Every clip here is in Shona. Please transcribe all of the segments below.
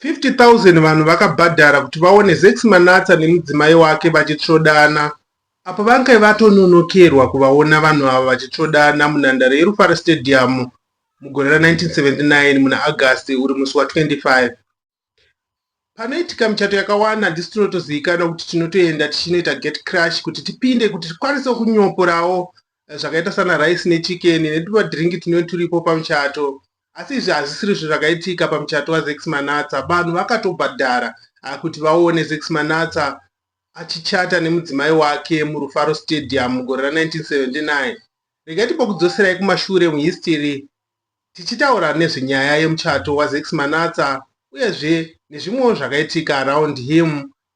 50,000 vanhu vakabhadhara kuti vaone Zakes Manatsa nemudzimai wake vachitsvodana apo vange vatononokerwa kuvaona vanhu ava vachitsvodana munhandare yeRufaro Stadium mugore ra 1979 muna August uri musi wa 25. Panoitika michato yakawanda handisi tinotozivikanwa kuti tinotoenda tichinoita get crush kuti tipinde kuti tikwanise kunyoporawo eh, zvakaita sana rice nechikeni netumadhiringi tunenge turipo pamuchato Asi izvi hazvisirizvo zvakaitika pamuchato waZex Manatsa. Vanhu vakatobhadhara ah, kuti vaone Zex Manatsa achichata nemudzimai wake muRufaro Stadium mugore ra 1979. Regai timbokudzoserai kumashure muhistiri tichitaura nezvenyaya yemuchato waZex Manatsa uyezve nezvimwewo zvakaitika around him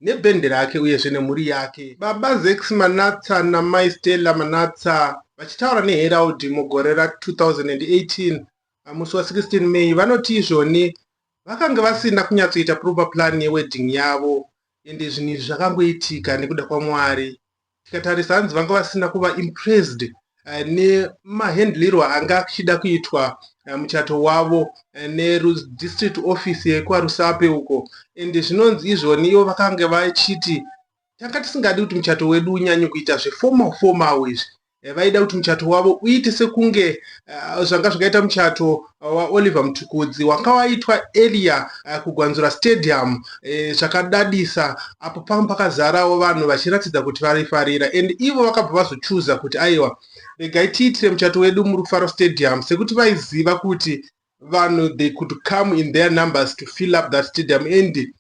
nebhendi rake uyezve nemhuri yake, Baba Zax Manatsa naMai Stella Manatsa, vachitaura neHerald mugore ra 2018 pamusi wa 16 May, vanoti izvoni vakange vasina kunyatsoita proper plan yewedding yavo ende zvinhu izvi zvakangoitika nekuda kwaMwari. tikatarisa hanzi vanga vasina kuva impressed eh, nemahandlirwo anga achida kuitwa eh, muchato wavo eh, nedistrict office yekwarusape uko and zvinonzi izvoni ivo vakange vachiti tanga tisingadi kuti muchato wedu unyanye kuita zveformal formal izvi vaida kuti muchato wavo uite sekunge zvanga zvakaita muchato waOliver Mtukudzi wanga waitwa earlier uh, kuGwanzura Stadium eh, zvakadadisa eh, apo panga pakazarawo vanhu vachiratidza kuti varifarira and ivo vakabva vazochuza kuti aiwa regai tiitire muchato wedu muRufaro Stadium sekuti vaiziva kuti vanhu they could come in their numbers to fill up that stadium and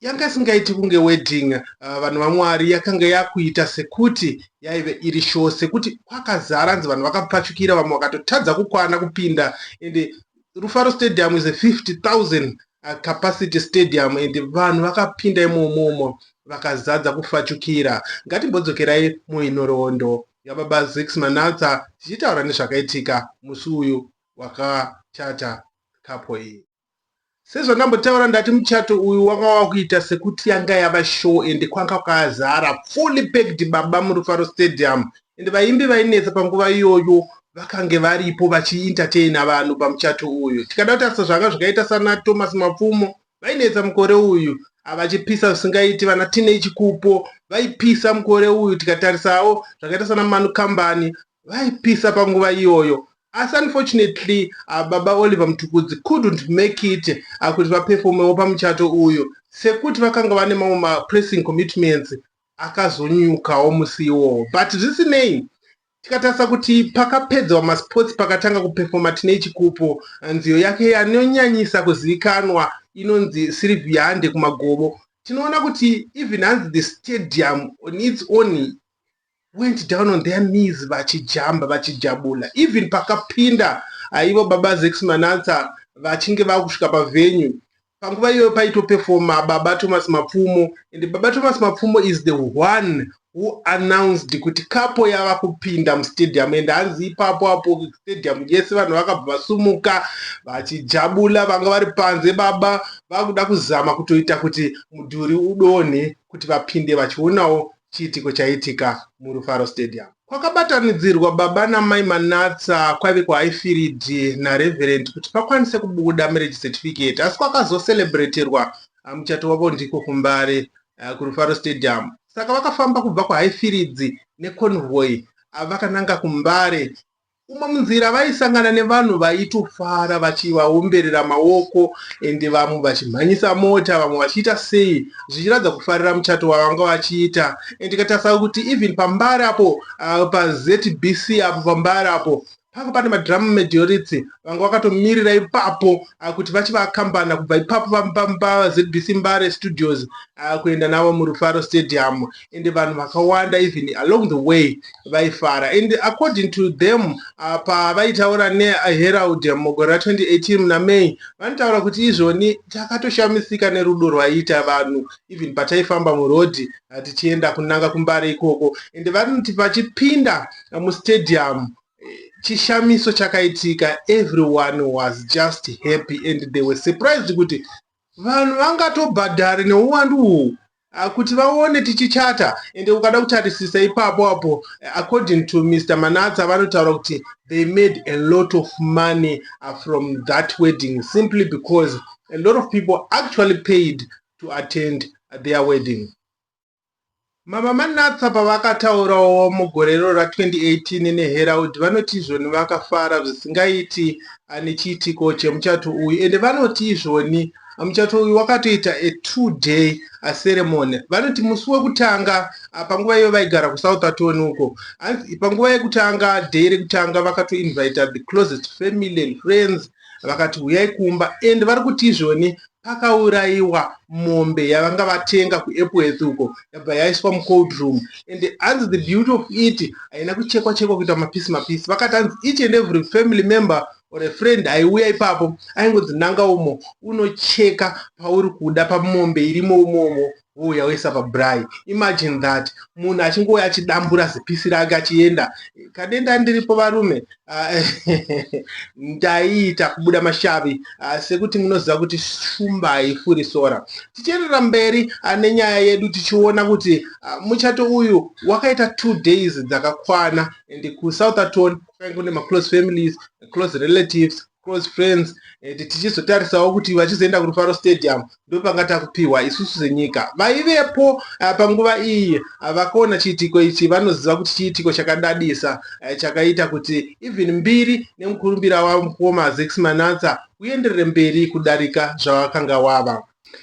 Yanga isingaiti kunge wedding uh, vanhu vaMwari yakanga yakuita sekuti yaive iri show sekuti kwakazara hanzi vanhu vakapfachukira vamwe vakatotadza kukwana kupinda ende Rufaro Stadium is a 50000 uh, capacity stadium and vanhu vakapinda imomomo vakazadza kufachukira ngatimbodzokerai muinhoroondo yababa zix manatsa tichitaura nezvakaitika musi uyu wakachata kapo iyi Sezvandambotaura ndati muchato uyu wanga wakuita sekuti yanga yava show ende kwanga kwazara fully packed baba murufaro stadium ende vaimbi vainetsa panguva iyoyo vakange varipo vachientertaina vanhu pamuchato uyu. Tikada kutarisa zvanga zvakaita sana Thomas Mapfumo vainetsa mukore uyu vachipisa zvisingaiti vana Tinei Chikupo vaipisa mukore uyu tikatarisawo zvakaita sana Manu Kambani vaipisa panguva iyoyo Asi unfortunately ah, baba Oliver Mtukudzi couldn't make it ah, kuti vaperfomewo pamuchato uyu sekuti vakanga vane mamwe mapressing commitments akazonyukawo musi iwowo but zvisinei tikatarisa kuti pakapedzewa masports pakatanga kuperfoma tine chikupo eh, nziyo yake yanonyanyisa kuzivikanwa inonzi sirivhiya hande kumagobo tinoona kuti even hanzi the stadium on its own went down on their knees vachijamba vachijabula even pakapinda aivo ah, baba zex manatsa vachinge vakusvika pavenue panguva iyoyo paitopefoma baba thomas mapfumo and baba thomas mapfumo is the one who announced kuti kapo yava kupinda mustadium and hanzi ipapo apo stadium yese vanhu vakabva vasumuka vachijabula vanga vari panze baba vakuda kuzama kutoita kuti mudhuri udonhe kuti vapinde vachionawo chiitiko chaiitika muRufaro Stadium. Kwakabatanidzirwa baba namai Manatsa kwaive kuHighfield naReverend kuti pakwanise kubuda marriage certificate asi kwakazocelebraterwa ah, muchato wavo ndiko kuMbare ah, kuRufaro Stadium. Saka vakafamba kubva kuHighfields neconvoy ah, vakananga kuMbare Umo munzira vaisangana nevanhu vaitofara vachivaomberera maoko ende vamwe vachimhanyisa mota vamwe vachiita sei zvichiratidza kufarira muchato wavanga vachiita and tikatarisa kuti even pambari apo uh, paZBC apo pambari apo panga pane madrum majority vanga vakatomirira ipapo uh, kuti vachivakambana kubva ipapo paZBC Mbare Studios uh, kuenda navo muRufaro Stadium and vanhu vakawanda even along the way vaifara and according to them uh, pavaitaura neherald mugore ra 2018 muna may vanotaura kuti izvoni takatoshamisika nerudo rwaiita vanhu even pataifamba murodhi uh, tichienda kunanga kumbare ikoko and vanoti vachipinda uh, mustadium chishamiso chakaitika everyone was just happy and they were surprised kuti vanhu vangatobhadhari neuwandu uhwu Ah, kuti vaone tichichata and ukada kutarisisa ipapo apo eh, according to mr manatsa vanotaura kuti they made a lot of money ah, from that wedding simply because a lot of people actually paid to attend their wedding mama manatsa pavakataurawo mugore iro ra2018 neherald vanoti izvoni vakafara zvisingaiti ah, nechiitiko chemuchato uyu ende vanoti izvoni Muchato uyu wakatoita a two day a ceremony. Vanoti musi wekutanga ah, panguva iyo vaigara kuSoutherton uko, hanzi panguva yekutanga day rekutanga vakatoinvita the closest family and friends vakati huyai kumba and vari kuti izvoni pakaurayiwa mombe yavanga vatenga kuepworth uko yabva yaiswa mucold room and hanzi the beauty of it haina kuchekwa chekwa kuita mapisi mapisi vakati hanzi each and every family member or a friend aiuya ipapo aingonzi nanga umo unocheka pauri kuda pamombe irimo umomo wouya woisa pabrai imagine that munhu achingouya achidambura zipisi rake achienda kadenda ndiripo varume ah, ndaiita kubuda mashavi ah, sekuti munoziva kuti shumba haifuri sora tichienderera mberi ah, nenyaya yedu tichiona kuti muchato uyu wakaita two days dzakakwana and kusouth aton kwainge kune maclose families close relatives close friends and tichizotarisawo kuti vachizoenda kurufaro stadium ndopanga takupiwa isusu senyika vaivepo uh, panguva iyi uh, vakaona chiitiko ichi vanoziva kuti chiitiko chakadadisa uh, chakaita kuti even mbiri nemukurumbira wavo mukoma zex manatsa uenderere mberi kudarika zvawakanga wava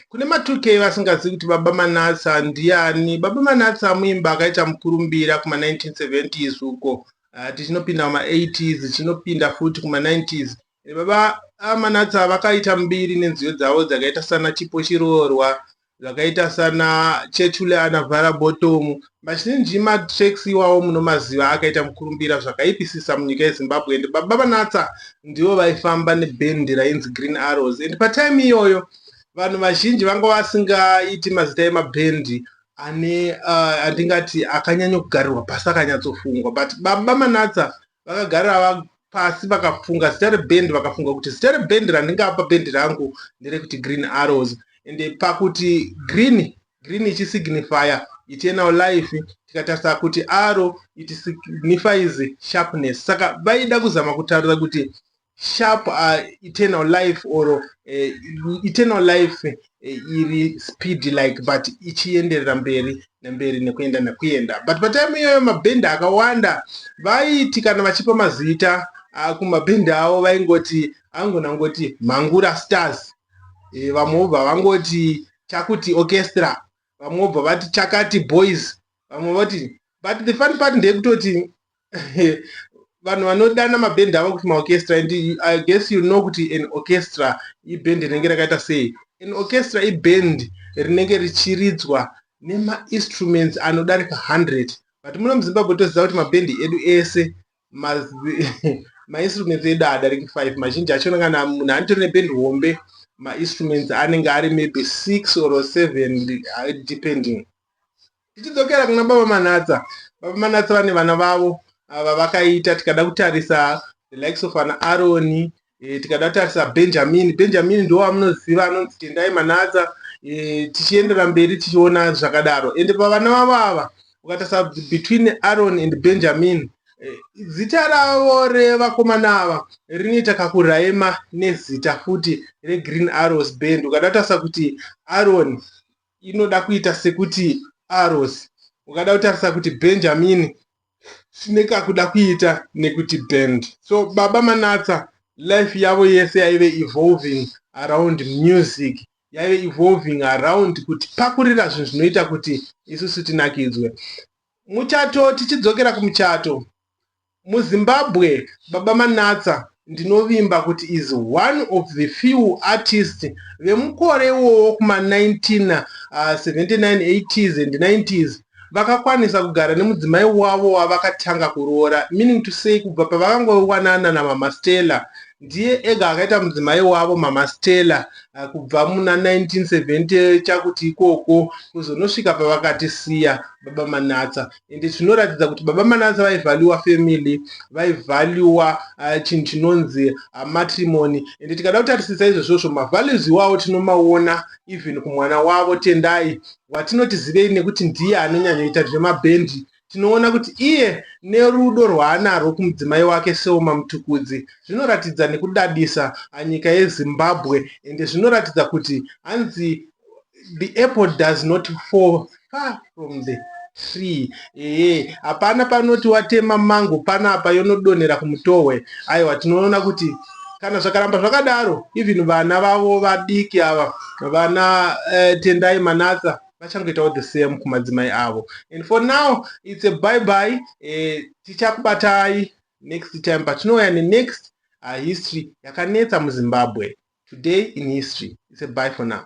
kune ma2k vasingazivi kuti baba manatsa ndiani baba manatsa muimba akaita mukurumbira kuma 1970s uko uh, tichinopinda kuma 80s tichinopinda futi kuma 90s eh, baba amanatsa ah, vakaita mbiri nenziyo dzavo dzakaita sana chipo chiroorwa zvakaita sana chechule anavhara botomu mazhinji matracks iwawo munomaziva akaita mukurumbira zvakaipisisa munyika yezimbabwe and baba vanatsa ndivo vaifamba nebendi rainzi green arrows and patime iyoyo vanhu vazhinji vanga vasingaiti mazita emabhendi ane uh, andingati akanyanya kugarirwa pasi akanyatsofungwa but baba manatsa vakagarira pasi vakafunga zita rebhendi vakafunga kuti zita rebhendi randingapa bhendi rangu nderekuti green arrows and pakuti green green ichisignifya eternal life tikatarisa kuti arrow it signifies sharpness saka vaida kuzama kutaura kuti sharp uh, eternal life or uh, eternal life uh, iri speed like but ichienderera mberi nemberi nekuenda nekuenda but patime iyoyo mabhendi akawanda vaiti kana vachipa mazita uh, kumabhendi avo vaingoti angona ngoti mangura stars e, vamwe vobva vangoti chakuti orchestra vamwe vobva vati chakati boys vamwe voti but the fun part ndeyekutoti vanhu vanodana mabhendi avo kuti maorchestra and i guess you know kuti an orchestra ibhendi rinenge rakaita sei an orchestra ibhendi rinenge richiridzwa nemainstruments anodarika 100 but muno muzimbabwe toziva kuti mabhendi edu ese mainstruments edu adariki five mazhinji acho kana munhu anitori neband hombe mainstruments anenge ari maybe six or seven uh, depending tichidzokera kuna baba manatsa baba manatsa vane vana vavo ava vakaita tikada kutarisa the likes of an aroni E, tikada tarisa benjamini benjamini ndiwo amunoziva anonzi tendai manatsa e, tichiendera mberi tichiona zvakadaro ende pavana vavo ava ukatarisa between aron and benjamini e, zita ravo revakomana ava rinoita kakuraima nezita futi regreen arrows band ukada tarisa kuti aron inoda kuita sekuti arrows ukada kutarisa kuti benjamin zvine kakuda kuita nekuti band so baba manatsa life yavo yese yaive evolving around music yaive evolving around kuti pakurira zvinhu zvinoita kuti isusu tinakidzwe muchato tichidzokera kumuchato MuZimbabwe Baba Manatsa ndinovimba kuti is one of the few artists vemukore iwowo kuma 1979 80s uh, and 90s vakakwanisa kugara nemudzimai wavo wavakatanga kuroora meaning to say kubva pavakangowanana namama stella ndiye ega akaita mudzimai wavo mama stella uh, kubva muna 1970 chakuti ikoko kuzonosvika pavakatisiya baba manatsa ende zvinoratidza kuti baba manasa vaivhaluwa family vaivhaluwa uh, chinhu chinonzi uh, matrimony ende tikada kutarisisa izvozvozvo mavalues iwawo tinomaona even kumwana wavo tendai watinoti zivei nekuti ndiye anonyanyoita zvemabhendi tinoona kuti iye nerudo rwaanarwo kumudzimai wake seoma mutukudzi zvinoratidza nekudadisa anyika yezimbabwe ende zvinoratidza kuti hanzi the apple does not fall far from the tree ehe hapana panoti watema mango panapa yonodonhera kumutohwe aiwa tinoona kuti kana zvakaramba zvakadaro even vana vavo vadiki ava vana uh, tendai manatsa vachangoitawo the same kumadzimai avo and for now its a bye bye uh, eh, tichakubatai next time patinouya nenext uh, history yakanetsa muzimbabwe today in history its a bye for now